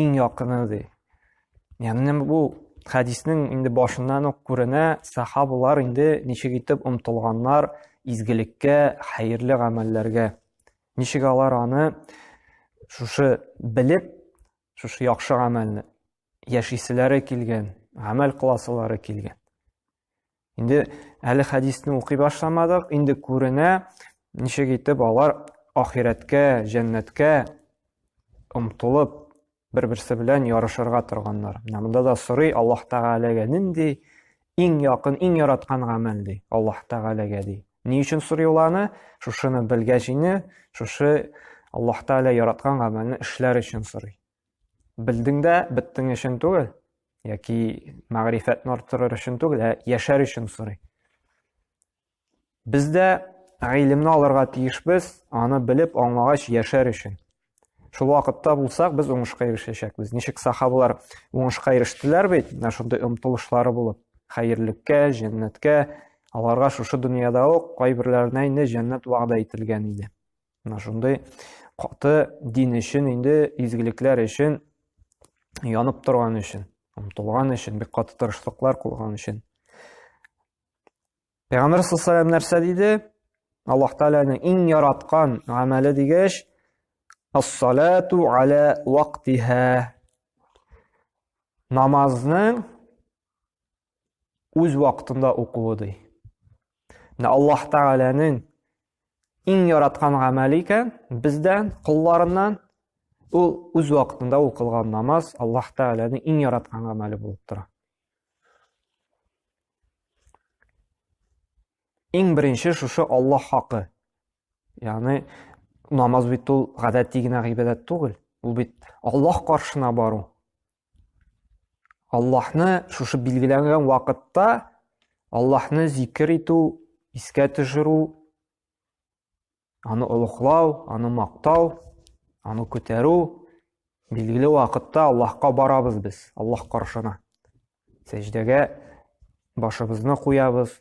иң якыны ди яғни бу хәдиснең инде башыннан ук күренә сахабалар инде ничек итеп омтылганнар изгелеккә хәерле гамәлләргә ничек алар аны шушы белеп шушы яхшы гамәлне яшиселәре килгән гамәл кыласылары килгән Инде әле хәдисне укый башламадык, инде күренә, ничек итеп алар ахирәткә, җәннәткә омтылып, бер-берсе белән ярышырга торганнар. Менә монда да сорый Аллаһ Тәгаләгә нинди иң якын, иң яраткан гамәл ди, Аллаһ Тәгаләгә ди. Ни өчен сорый ул аны? Шушыны белгәч инде, шушы Аллаһ Тәгалә яраткан гамәлне эшләр өчен сорый. Белдең дә беттең өчен түгел, яки мәгърифәтне арттырыр өчен түгел, ә яшәр өчен сорый. Без дә гыйлемне алырга тиешбез, аны белеп аңлагач яшәр өчен. Шул вакытта булсак, без уңышка ирешәчәкбез. Ничек сахабалар уңышка ирештеләр бит, менә шундый омтылышлары булып, хәерлеккә, җәннәткә, аларга шушы дөньяда ук кайберләренә инде җәннәт вәгъдә ителгән иде. Менә шундый каты дин өчен инде изгелекләр өчен янып торган өчен, омтылган өчен, бик каты тырышлыклар кылган өчен. Пәйгамбер саллаллаху нәрсә диде? Аллаһ Тәгаләнең иң яраткан гамәле дигәч, ас-салату аля вактиһа. Намазның үз вакытында укуы ди. Менә Аллаһ Тәгаләнең иң яраткан гамәле икән, бездән, кулларыннан ул үз вакытында укылган намаз Аллаһ Тәгаләнең иң яраткан гамәле булып тора. Иң беренче шушы Аллаһ хакы. Ягъни намаз бит ул гадәти генә гыйбадәт түгел, ул бит Аллаһ каршына бару. Аллаһны шушы билгеләнгән вакытта Аллаһны зикер итү, искә төшерү, аны олугълау, аны мактау, аны күтәрү билгеле вакытта Аллаһка барабыз без, Аллаһ каршына. Сәҗдәгә башыбызны куябыз,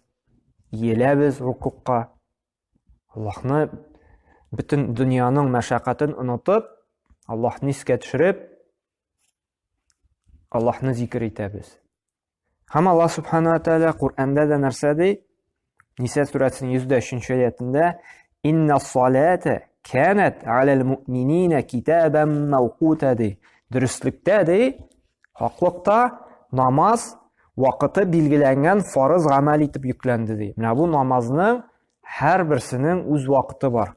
иеләбез рукукка. Аллаһны бөтен дөньяның мәшәкатен онытып, Аллаһны искә төшереп, Аллаһны зикер итәбез. Һәм Аллаһ Субхану ва Тәгалә Коръәндә дә нәрсә ди? Ниса сүрәсенең 103-нче аятында Инна салата канат алал муъминина китабан мавкута ди. Дөреслектә ди, хаклыкта намаз вакыты билгеләнгән фарыз гамәл итеп йөкләнде ди. Менә бу намазның һәрберсенең үз вакыты бар.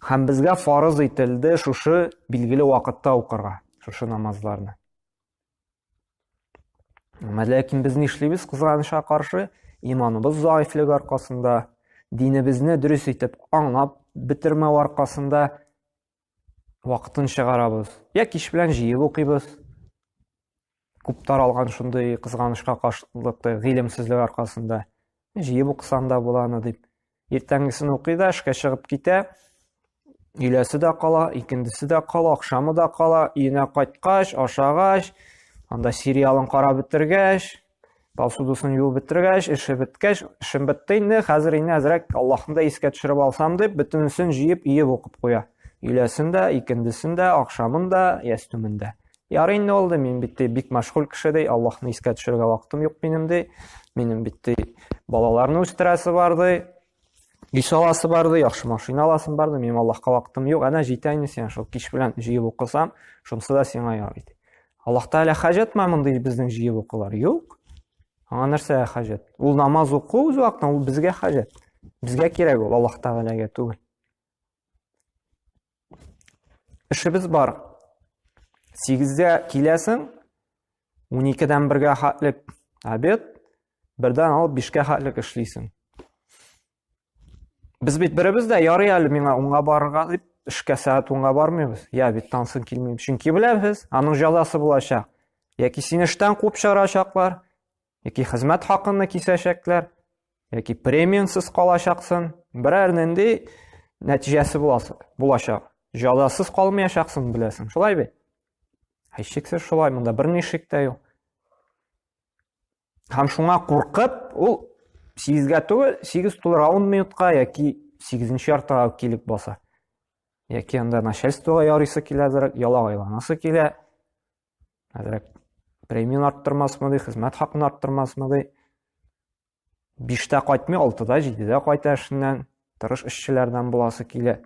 Һәм безгә фарыз ителде шушы билгеле вакытта укырга, шушы намазларны. Әмма ләкин без нишлибез кызганычка каршы, иманыбыз заифлек аркасында, динебезне дөрес итеп аңлап бетермәү аркасында вакытын чыгарабыз. Я кич белән җыеп укыйбыз. Күп таралган шундый кызганычка каршылыкта гыйлемсезлек аркасында. Җыеп укысаң да була аны дип. Иртәнгесен укый да, эшкә чыгып китә. Өйләсе дә кала, икендесе дә кала, акшамы да кала. Өенә кайткач, ашагач, анда сериалын карап бетергәч, Посудасын юып беттергәч, эше беткәч, эшем бетте инде, хәзер инде әзрәк Аллаһны да искә төшереп алсам дип, бөтенесен җыеп, иеп укып куя. Өйләсен дә, икендесен дә, ахшамын да, ястүмен дә. Ярый инде ул мин бит бик мәшгуль кеше ди, Аллаһны искә төшерергә вакытым юк минем ди. Минем бит балаларны үстерәсе бар ди. Кич аласы барды, яхшы машина аласым барды, минем Аллаһка вакытым юк. Әнә җитә инде сиңа шул кич белән җыеп укысам, шунысы да сиңа яр иде. Аллаһ Тәгалә хаҗәтме мондый безнең җыеп укулар? Юк. Аңа нәрсә хаҗәт? Ул намаз уку үз вакытында, ул безгә хаҗәт. Безгә кирәк ул Аллаһ Тәгаләгә түгел. Эшебез бар. Сигездә киләсең, уникедән бергә хатлек обед, бердән алып бишкә хатлек эшлисең. Без бит беребез дә ярый әле миңа уңга барырга дип эшкә сәгать унга бармыйбыз я бит тансын килмим чөнки беләбез аның җәзасы булачак яки сине эштән куып чыгарачаклар яки хезмәт хакыны кисәчәкләр, яки премиансыз калачаксың, берәр нинди нәтиҗәсе булачак. Җазасыз калмаячаксың, беләсең, шулай бит? Һичшиксез шулай, монда берни шик тә юк. Һәм шуңа куркып, ул 8-гә түгел, 8 тулыр 10 минутка яки 8-нче яртыга килеп баса. Яки анда начальствога ярыйсы киләдер, ялагайланасы килә. Әзрәк премияны арттырмасмы ди, хезмәт хакын арттырмасмы ди. Биштә кайтмый, алтыда, җидедә кайта эшеннән, тырыш эшчеләрдән буласы килә.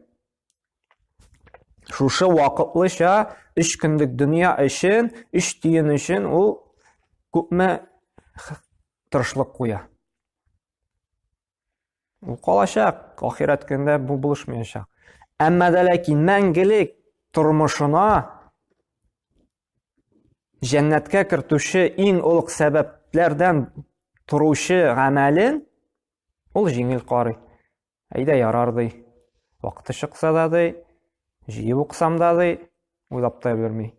Шушы вакытлыча өч көнлек дөнья өчен, өч тиен өчен ул күпме тырышлык куя. Ул калачак, ахирәт көндә бу булышмаячак. Әмма дә ләкин мәңгелек тормышына җәннәткә кертүче иң олуг сәбәпләрдән торучы гамәлен ул җиңел карый. Әйдә ярар ди. Вакыты чыкса да ди, җыеп уксам да ди, уйлап та өлгерми.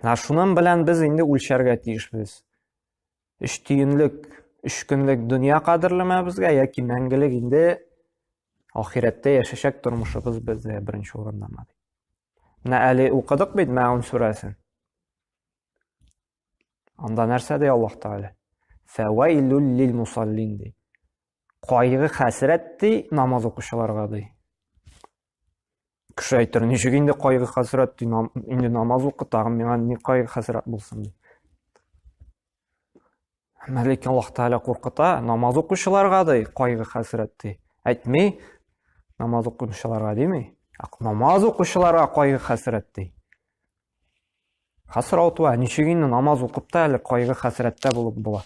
Менә шуның белән без инде үлчәргә тиешбез. Өч тиенлек, өч көнлек дөнья кадерлеме безгә, яки мәңгелек инде ахирәттә яшәшәк тормышыбыз бездә беренче урындамы? Менә әле укыдык бит Мәгун сүрәсен. Анда нәрсә ди Аллаһ Тәгалә? Фәвайлул лил мусаллин ди. Кайгы хәсрәт ди намаз укучыларга ди. кеше әйтер ничек инде кайгы хәсрәт ди инде намаз укы тагын миңа ни кайгы хәсрәт булсын ди әмма ләкин аллаһ тәғәлә куркыта намаз укучыларга ди кайгы хәсрәт ди әйтми намаз укучыларга дими намаз укучыларга кайгы хәсрәт ди хәсрәт ва ничек инде намаз укып та әле кайгы хәсрәттә булып була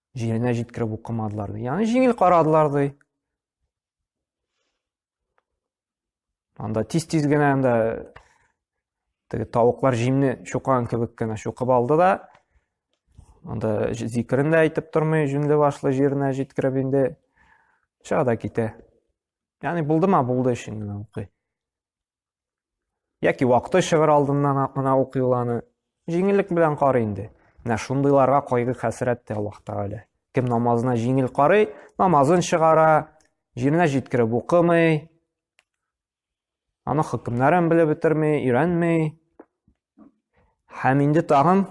Җиренә җиткереп укымадылар ди. Ягъни җиңел карадылар ди. Анда тиз-тиз генә анда теге тавыклар җимне чукан кебек кенә чукып алды да анда зикерен дә әйтеп тормый, җүнле башлы җиренә җиткереп инде чыга да китә. Ягъни булдымы, булды өчен генә укый. Яки вакыты чыгыр алдыннан гына укый ул аны. Җиңеллек белән карый инде. Менә шундыйларга кайгы хәсрәт тә Аллаһ Тәгалә. Кем намазына җиңел карый, намазын чыгара, җиренә җиткереп укымый, аны хөкемнәрен белеп бетерми, өйрәнми, Һәм инде тагын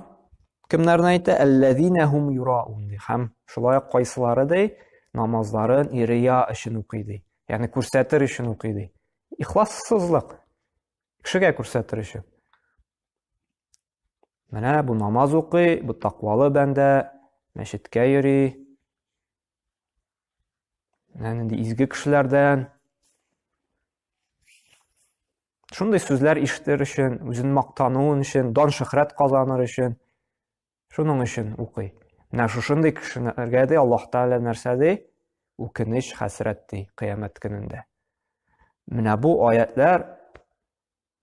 кемнәрне әйтә? Әлләзинә хум юраун ди. Һәм шулай ук кайсылары ди? Намазларын ирия өчен укый ди. Ягъни күрсәтер өчен укый ди. Ихлассызлык. Кешегә күрсәтер өчен. Менә бу намаз укый, бу тақвалы бәндә, мәчеткә йөри. Менә нинди изге кешеләрдән. Шундый сүзләр ишетер өчен, үзен мактануын өчен, дан шөхрәт казаныр өчен, шуның өчен укый. Менә шушындый кешеләргә дә Аллаһ Тәгалә нәрсә ди? Үкенеч, хәсрәт ди кыямәт көнендә. Менә бу аятлар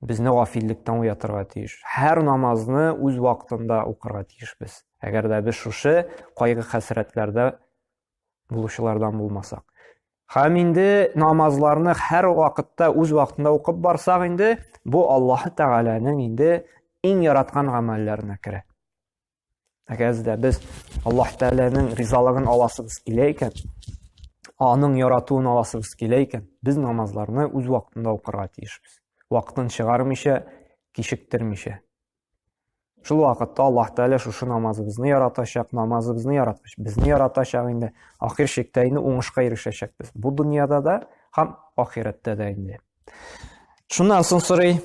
безне гафиллектән уятырга тиеш. Һәр намазны үз вакытында укырга тиешбез. Әгәр дә без шушы кайгы-хәсрәтләрдә булучылардан булмасак. Хәм инде намазларны һәр вакытта үз вакытында укып барсак инде, бу Аллаһ Тәгаләнең инде иң яраткан гамәлләренә керә. Әгәр дә без Аллаһ Тәгаләнең ризалыгын аласыбыз килә икән, аның яратуын аласыбыз килә икән, без намазларны үз вакытында укырга тиешбез. Вакытын чыгармыйча, кичектермичә. Шул вакытта Аллаһ Тәгалә шушы намазыбызны яратачак, намазыбызны яраткач, безне яратачак инде. Ахир шиктә инде уңышка ирешәчәкбез. Бу дөньяда да һәм ахирәттә дә инде. Шуннан соң сорый,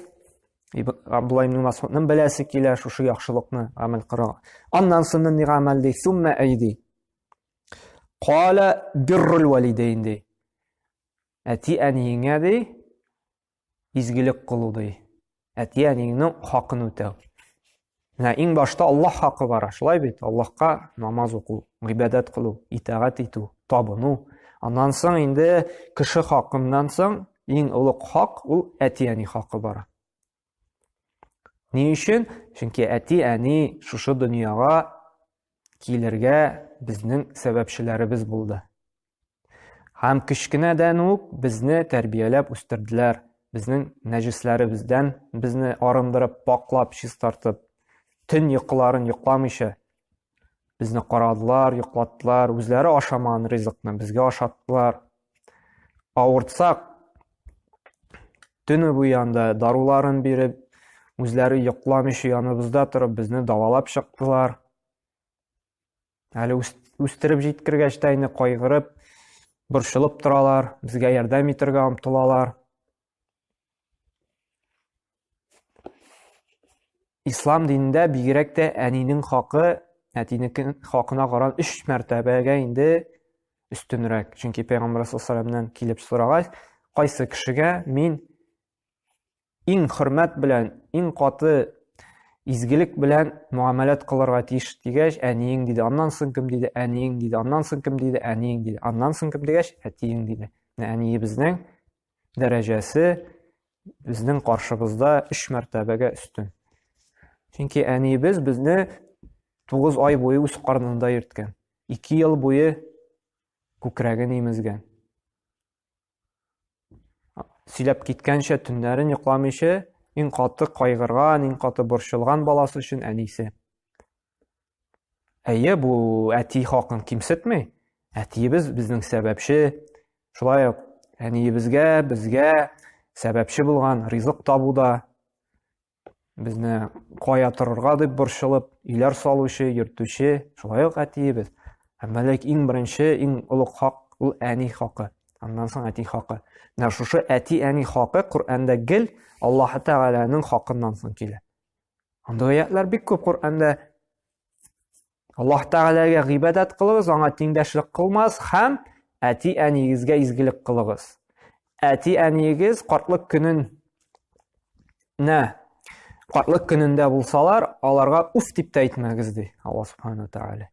Абдулла ибн Масудның беләсе килә шушы яхшылыкны гамәл кыла. Аннан соң ни гамәл ди? Сумма айди. Кала биррул валидейн ди. Әти әниеңә ди, изгелек кылу ди. Әти-әниеңнең хакын үтәү. Менә иң башта Аллаһ хакы бара, шулай бит? Аллаһка намаз уку, гыйбадәт кылу, итагать итү, табыну. Аннан соң инде кеше хакыннан соң иң олуг хак ул әти-әни хакы бара. Ни өчен? Чөнки әти-әни шушы дөньяга килергә безнең сәбәпчеләребез булды. Һәм кечкенәдән үк безне тәрбияләп үстерделәр, безнең нәҗесләребездән безне арындырып, паклап, чистартып, төн йокыларын йокламыйча безне карадылар, йоклаттылар, үзләре ашамаган ризыкны безгә ашаттылар. Авыртсак, төне буе анда даруларын биреп, үзләре йокламыйча яныбызда торып, безне давалап чыктылар. Әле үстереп җиткергәч тә инде кайгырып, борчылып торалар, безгә ярдәм итәргә омтылалар. Ислам динендә бигрәк тә әнинең хакы, әтинең хакына каран 3 мәртәбәгә инде өстенрәк. Чөнки Пәйгамбәр саллаллаһу килеп сорагач, кайсы кешегә мин иң хөрмәт белән, иң каты изгелек белән муамәләт кылырга тиеш дигәч, әниең диде. Аннан соң кем диде? Әниең диде. Аннан соң кем диде? Әниең диде. Аннан соң кем дигәч, әтиең диде. Әниебезнең дәрәҗәсе безнең каршыбызда 3 мәртәбәгә өстен. Чөнки әниебез безне 9 ай буе үз карнында йөрткән. 2 ел буе күкрәген имезгән. Сөйләп киткәнчә төннәрен йокламыйча, иң каты кайгырган, иң каты борчылган баласы өчен әнисе. Әйе, бу әти хакын кимсетми. Әтиебез безнең сәбәпче. Шулай ук әниебезгә, безгә сәбәпче булган ризык табуда, Безне кая торырга дип борчылып, иләр салучы, йөртүче, шулай ук әтиебез. Әмма ләк иң беренче, иң олуг хак ул әни хакы. Аннан соң әти хакы. Менә шушы әти-әни хакы Коръәндә гел Аллаһ Тәгаләнең хакыннан соң килә. Андый аятлар бик күп Коръәндә Аллаһ Тәгаләгә гыйбадәт кылыгыз, аңа тиңдәшлек кылмас һәм әти-әниегезгә изгелек кылыгыз. Әти-әниегез картлык көнен нә картлык көнендә булсалар, аларга уф дип тә әйтмәгез ди Аллаһ Субхану Тәгалә.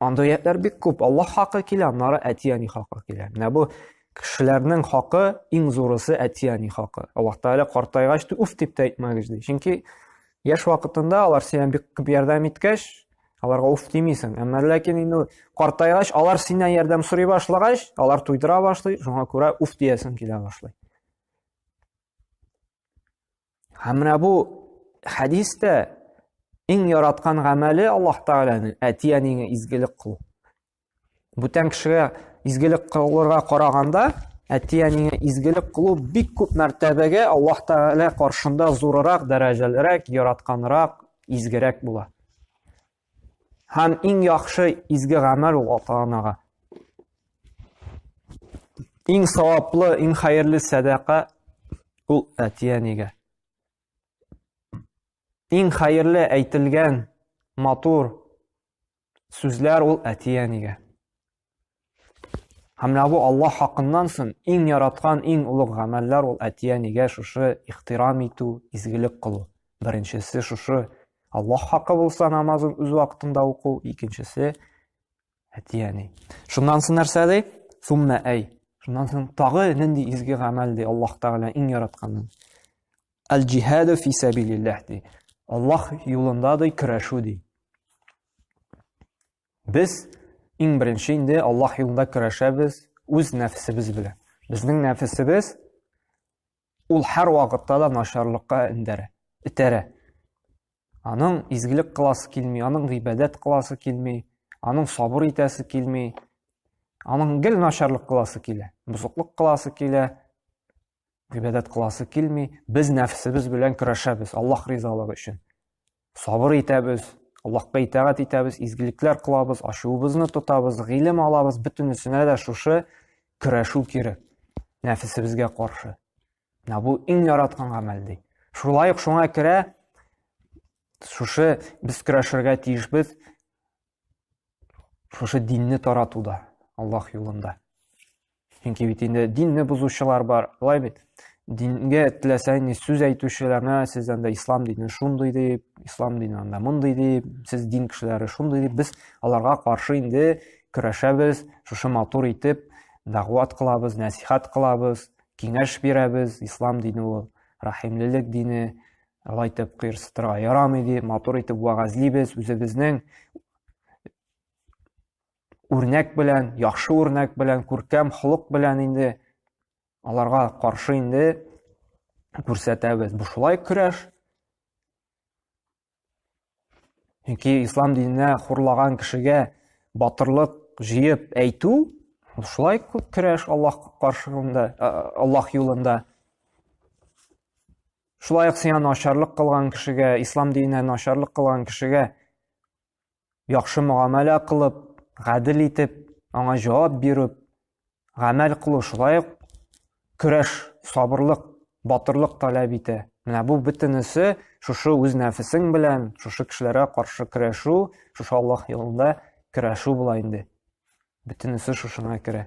Анда аятлар бик күп. Аллаһ хакы килә, аннары әти-әни хакы килә. Менә бу кешеләрнең хакы иң зурысы әти-әни хакы. Аллаһ Тәгалә картайгач, уф дип тә әйтмәгез ди. Чөнки Яшь вакытында алар сиңа бик күп ярдәм иткәч, аларга уф димисең. Әмма ләкин инде картайгач, алар синнән ярдәм сорый башлагач, алар туйдыра башлый, шуңа күрә уф диясең килә башлый. Һәм менә бу хәдистә иң яраткан гамәле Аллаһ Тәгаләнең әти-әнигә изгелек кылу. Бүтән кешегә изгелек кылырга караганда, әти-әнигә изгелек кылу бик күп мәртәбәгә Аллаһ Тәгалә каршында зурырак, дәрәҗәлерәк, яратканрак, изгерәк була. Һәм иң яхшы изге гамәл ул ата-анага. Иң саваплы, иң хәерле сәдака ул әти-әнигә. Иң хәерле әйтелгән матур Сүзләр ул әти-әнигә. Һәм менә бу Алла хакыннан сон иң яраткан, иң олуг гамәлләр ул әти-әнигә шушы ихтирам итү, изгелек кылу. Беренчесе шушы Алла хакы булса намазын үз вакытында уку, икенчесе әти-әни. Шуннан сон нәрсә ди? Сумма әй. Шуннан сон тагы нинди изге гамәл ди Аллаһ Тәгалә иң яратканын. Аль-джихаду фи сабилиллах ди. Аллаһ юлында ди көрәшү ди. Без иң беренче инде Аллаһ юлында көрәшәбез үз нәфсебез белән. Безнең нәфсебез ул һәр вакытта да начарлыкка индерә, итерә. Аның изгелек кыласы килми, аның гыйбадәт кыласы килми, аның сабыр итәсе килми. Аның гел начарлык кыласы килә, бузыклык кыласы килә, гыйбадәт кыласы килми без нәфсебез белән көрәшәбез аллаһ ризалыгы өчен сабыр итәбез аллаһка итәгать итәбез изгелекләр кылабыз ачуыбызны тотабыз гыйлем алабыз бөтенесенә дә шушы көрәшү кирәк нәфесебезгә каршы менә бу иң яраткан гамәл ди шулай ук шуңа керә шушы без көрәшергә тиешбез шушы динне таратуда аллах юлында чөнки бит инде динне бозучылар бар былай бит дингә теләсә ни сүз әйтүчеләрне сез анда ислам дине шундый дип ислам дине анда мондый дип сез дин кешеләре шундый дип без аларга каршы инде көрәшәбез шушы матур итеп дәгъват кылабыз нәсихат кылабыз киңәш бирәбез ислам дине ул рәхимлелек дине Алай итеп кыерсытырга ярамый ди, матур итеп вәгазьлибез, үзебезнең үрнәк белән, яхшы үрнәк белән, күркәм холык белән инде аларга каршы инде күрсәтәбез. Бу шулай көрәш. Чөнки ислам диненә хурлаган кешегә батырлык җыеп әйтү шулай күп көрәш Аллаһ каршында, Аллаһ юлында. шулай ук сиңа начарлык кылган кешегә ислам диненә начарлык кылган кешегә яхшы мөгамәлә кылып гадел итеп аңа җавап бирү гамәл кылу шулай ук көрәш сабырлык батырлык таләп итә менә бу бөтенесе шушы үз нәфесең белән шушы кешеләргә каршы көрәшү шушы аллаһ юлында көрәшү була инде бөтенесе шушыңа керә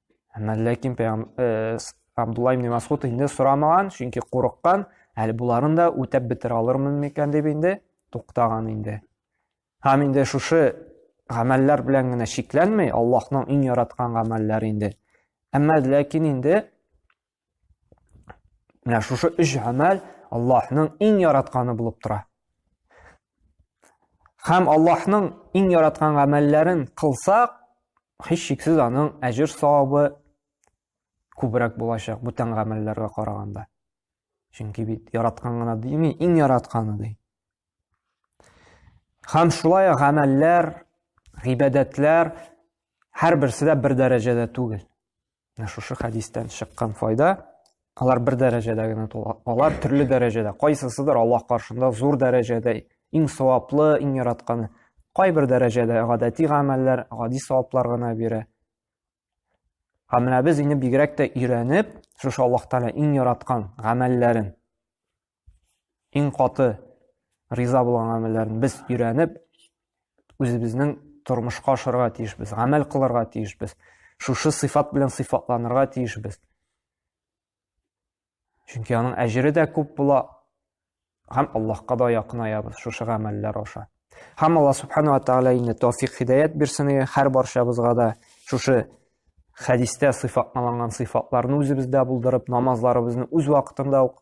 Ләкин э, Абдулла ибн Масгуд инде сорамаган, чөнки курыккан, әле буларын да үтәп бетерә алырмын микән дип инде туктаган инде. Һәм инде шушы гамәлләр белән генә чикләнмәй, Аллаһның иң яраткан гамәлләре инде. Әмма ләкин инде Менә шушы өч гамәл Аллаһның иң яратканы булып тора. Хәм Аллаһның иң яраткан гамәлләрен кылсак, һич шиксез аның әҗер савабы күбрәк булачак бүтән гамәлләргә караганда. Чөнки бит яраткан гына дими, иң яратканы ди. Хәм шулай гамәлләр, гыйбадәтләр һәр берсе дә бер дәрәҗәдә түгел. Менә шушы хәдистән чыккан файда, алар бер дәрәҗәдә генә тула. Алар төрле дәрәҗәдә, кайсысыдыр Аллаһ каршында зур дәрәҗәдә, иң саваплы, иң яратканы. Кайбер дәрәҗәдә гадәти гамәлләр, гади саваплар гына бирә. Ә менә без инде бигрәк тә өйрәнеп, шушы Аллаһ Тәгалә иң яраткан гамәлләрен иң каты риза булган гамәлләрен без өйрәнеп, үзебезнең тормышка ашырга тиешбез, гамәл кылырга тиешбез. Шушы сыйфат белән сыйфатланырга тиешбез. Чөнки аның әҗере дә күп була, һәм Аллаһка да якынаябыз шушы гамәлләр аша. Һәм Аллаһ субхану ва тааля инде тәүфик хидаят бирсен һәр баршабызга да шушы хәдистә сыйфатланган сыйфатларны үзебездә булдырып, намазларыбызны үз вакытында ук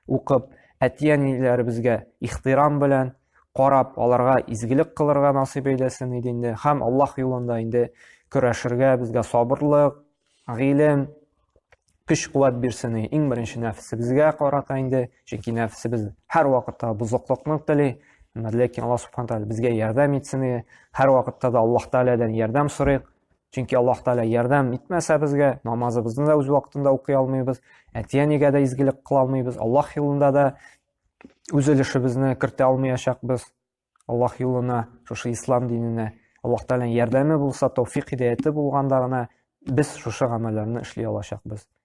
укып, әти-әниләребезгә ихтирам белән карап, аларга изгелек кылырга насыйп әйләсен иде инде. Һәм Аллаһ юлында инде көрәшергә безгә сабырлык, гыйлем, көч-куәт бирсен. Иң беренче нәфсебезгә карата инде, чөнки нәфсебез һәр вакытта бозыклыкны тели. Ләкин Аллаһ субхана тәгалә безгә ярдәм итсен. Һәр вакытта да Аллаһ тәгаләдән ярдәм сорыйк. Чөнки Аллаһ Тәгалә ярдәм итмәсә безгә, намазыбызны да үз вакытында укый алмыйбыз, әти-әнигә дә изгелек кыла алмыйбыз, Аллаһ юлында да үз өлешебезне кертә алмаячакбыз. Аллаһ юлына, шушы ислам диненә Аллаһ Тәгаләнең ярдәме булса, тауфик хидаяте булганда гына без шушы гамәлләрне эшли алачакбыз.